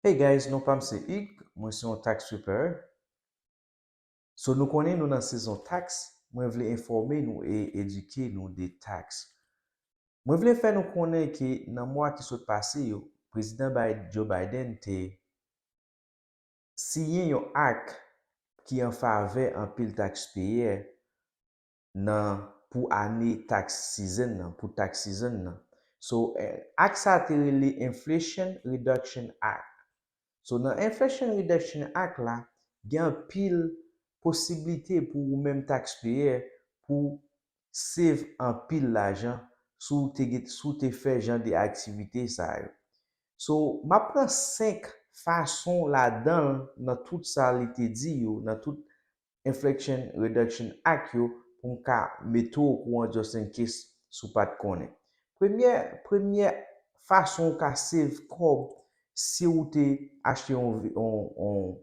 Hey guys non pam se Hugues mwen se yon tax preparer so nou konnen nou nan sezon tax mwen vle enfòme nou e edike nou de tax mwen vle fè nou konnen ke nan mwa ki sot pase yo prezidan Joe Biden te siyen yon act ki an favè anpil taxpayer nan pou ane tax season nan, pou tax season nan. So, act sa a te rele Inflation Reduction Act. So, nan Inflation Reduction Act la, gen anpil posiblite pou ou menm taxpayer pou save anpil lajan si w te gen, si w te fè jan de aktivite sa yo. So, m ap pran 5 fason ladan l nan tout sa li te di yo, nan tout inflection, reduction ak yo pou m ka mete w okouran just in case si w pa t konnen. Premyè premyè fason ou ka save kòb si ou te achte yon yon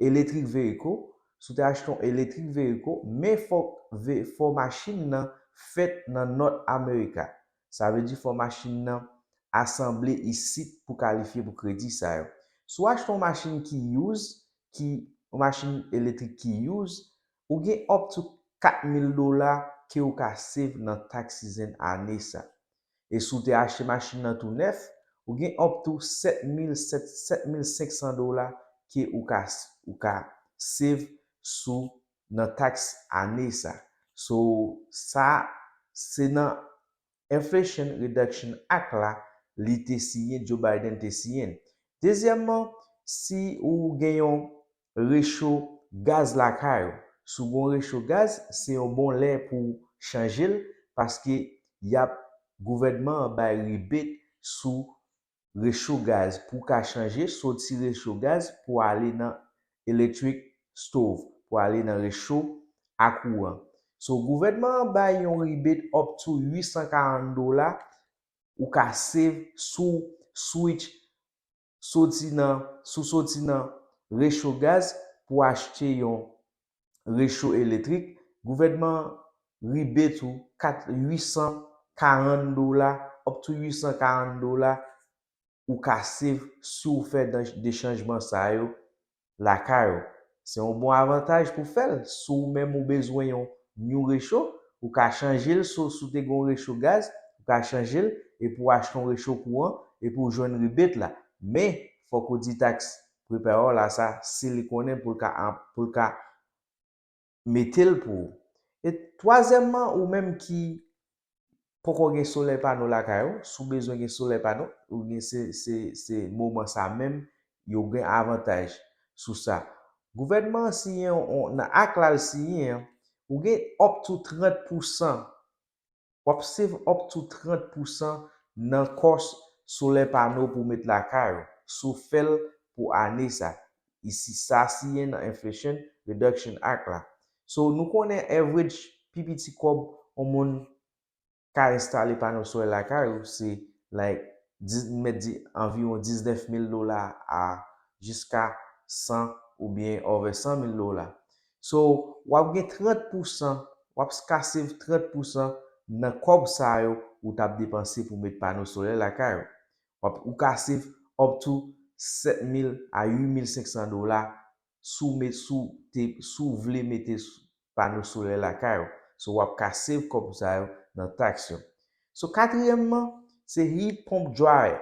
electric vehicle, si w te achte yon electric vehicle men fòk fò machin nan fèt nan North America. Sa vle di fò machin nan asanble isit pou kalifye pou kredi sa yo. Si w achte yon machin ki use, ki yon machin eletrik ki use, ou gen up to 4 mil dola ke ou ka save nan tax season ane sa. E si w te achte machin nan tou nèf, ou gen up to 7 mil 7 mil 500 dola ke ou ka ou ka save sou nan tax ane sa. So sa se nan Inflation Reduction Act la li te siyen, Joe Biden te siyen l. Dezyèmman, si ou gen yon recho gaz lakay ou, si w gen yon recho gaz, se yon bon lè pou w chanje l paske y ap gouvènman an bay rebate sou recho gaz pou ka chanje soti recho gaz pou ale nan electric stove pou ale nan recho a kouran so gouvènman an bay yon rebate up to 840 dola ou ka save souw switch soti nan sou soti nan recho gaz pou achte yon recho eletrik, gouvènman an ribe tou 4 800 karann dola up to 800 karann dola ou ka save si w fè dan de chanjman sa yo lakay ou. Se yon bon avantaj pou fè l si w menm ou bezwen yon new recho, ou ka chanje l so si w te gen yon recho gaz, ou ka chanje l epi w achte yon recho kouran epi w jwenn rebate la. Men, fòk ou di tax prepare w la sa si li konnen pou l ka pou l ka mete l pou ou e twazyèmman ou menm ki poko gen solèy pano lakay ou si w bezwen gen solèy pano ou gen se se se moman sa menm yo gen avantaj sou sa gouvènman an siyen yon nan ak la l siyen an ou gen up to 30 pousan Wap save up to 30 pousan nan kòs solè pano pou met lakay ou, si w fèl pou ane sa, isi sa siyen nan Inflation Reduction Act la. So nou konnen average pi piti kòb on moun ka enstale pano solè lakay ou se like nou mèt di anviwon 19 mil dola a jiska 100 oubyen over 100 mil dola. So wap gen 30 pousan, wap ska save 30 pousan nan kòb sa yo ou tap depanse pou met pano solè lakay ou. Wap ou ka save up to 7000 a 8500 dola si w met si w te si w vle mete pano solè lakay ou. So wap ka save kòb sa yo nan tax yo. So katriyèmman se heat pump dryer.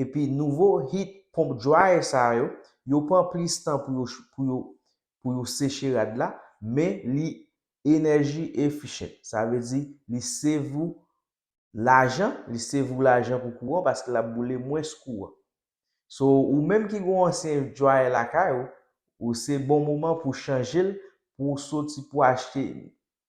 epi nouvo heat pump dryer sa yo, yo pran plis tan pou yo pou yo pou yo seche rad la, men li energy efficient, sa vle di li save ou lajan, li save ou lajan pou kouran paske lap boule mwens kouran. So ou menm ki gen yon ansyen dryer lakay ou, ou se bon moman pou chanjel pou soti pou achte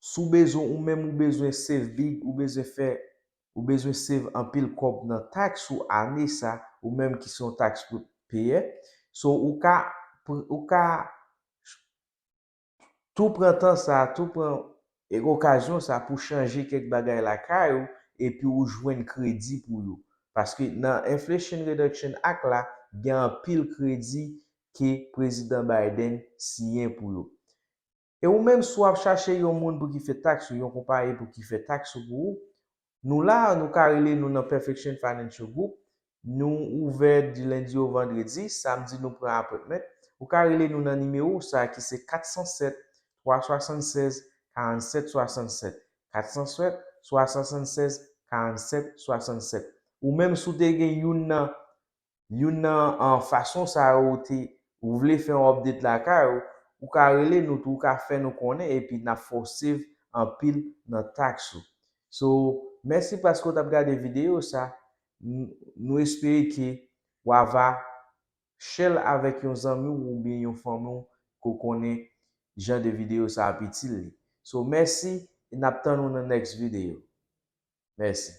Si w bezwen ou menm ou bezwen save big ou bezwen fè ou bezwen save anpil kòb nan tax ou ane sa ou menm ki se yon tax payè so ou ka ou ka tou pran tan sa tou pran okazyon sa pou chanje kèk bagay lakay ou epi ou jwenn kredi pou yo paske nan inflation reduction act la gen anpil kredi ke prezidan Biden siyen pou yo. E ou menm si w ap chache yon moun pou ki fè tax ou yon konpayi pou ki fè tax ou pou ou, nou la a nou ka rele nou nan Perfection Financial Group, nou ouvè di lendi o vandredi, samdi nou pran appointment, ou ka rele nou nan nimewo sa a ki se 407 376 47 67, 407 376 47 67. Ou menm si w te gen youn nan Youn nan fason sa yo ou te ou vle fè yon update lakay ou, ou ka rele nou tou ou ka fè nou konnen epi nap fè w save anpil nan tax ou. So mèsi paske ou tap gade video sa, nou espere ke wa va share l avèk yon zanmi w oubyen yon fanmi w ke w konnen jan de video sa ap itil li. So mèsi e nap tann ou nan next video. Mèsi.